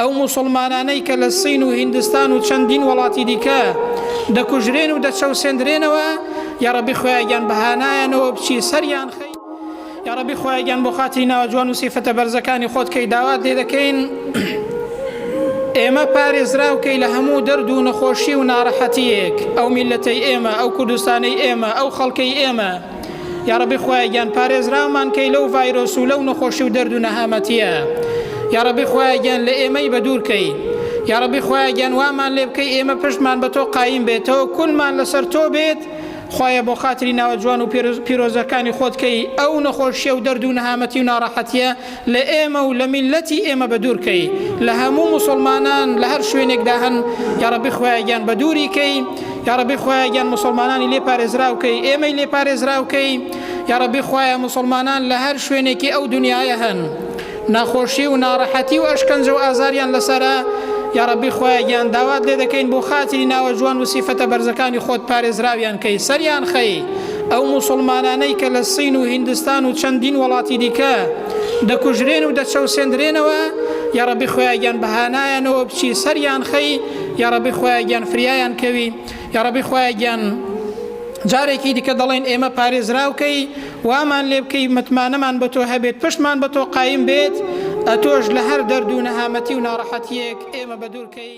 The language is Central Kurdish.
ئەو موسڵمانانەی کە لە سین و هیندستان و چەندین وەڵاتی دیکە دەکوژرێن و دەچەوسێندرێنەوە یاڕەبی خوایە گیان بە هانایانەوە بچی سەریان خەی یاڕەبی خوایە گیان بۆ خاتری ناوە جوان و سیفەتە بەرزەکانی خۆت کەی داوات لێ دەکەین ئێمە پارێزراو کەی لە هەموو دەرد و نەخۆشی و ناڕەحەتیەک ئەو میلەتەی ئێمە ئەو کوردستانەی ئێمە ئەو خەڵکەی ئێمە یاڕەبی خوایە گیان پارێزراومان کەی لەو ڤایرۆس و لەو نەخۆشی و دەرد و نەهامەتیە یاڕەبی خوایە گیان لە ئێمەی بە دوور کەی یاڕەبی خوایە گیان وامان لێ بکەی ئێمە پشتمان بە تۆ قایم بێتەوە کونمان لەسەر تۆ بێت خوایە بۆ خاتری ناوە جوان و پیرۆزەکانی خۆت کەی ئەو نەخۆشیە و دەرد و نەهامەتی و ناڕەحەتیە لە ئێمە و لە میللەتی ئێمە بەدوور کەی لە هەموو موسڵمانان لە هەر شوێنێکدا هەن یاڕەبی خوایە گیان بەدووری کەی یاڕەبی خوایە گیان موسڵمانانی لێ پارێزراو کەی ئێمەی لێ پارێزراو کەی یاڕەبی خوایە موسڵمانان لە هەر شوێنێکی ئەو دنیاە هەن ناخۆشی و ناڕەحەتی و ئەشکەنجە و ئازاریان لەسرە یاڕەبی خوایە گیان داوات لێ دەکەین بۆ خاتری ناوە جوان و سیفەتە بەرزەکانی خۆت پارێزراویان کەی سەریان خەی ئەو موسڵمانانەی کە لە سین و هیندستان و چەندین وەڵاتی دیکە دەکوژرێن و دەچەوسێندرێنەوە یاڕەبی خۆیاگیان بەهانایانەوە بچی سەریان خەی یاڕەبی خۆیاگیان فریایان کەوی یاڕەبی خۆیاگیان جارێکی دیکە دەڵێن ئێمە پارێزراوکەی وامان لێ بکەی متمانەمان بە تۆ هەبێت پشتمان بە تۆ قایم بێت ئەتۆش لە هەر دەرد و نەهامەتی و ناڕەحەتیەک ئێمە بەدوورکەی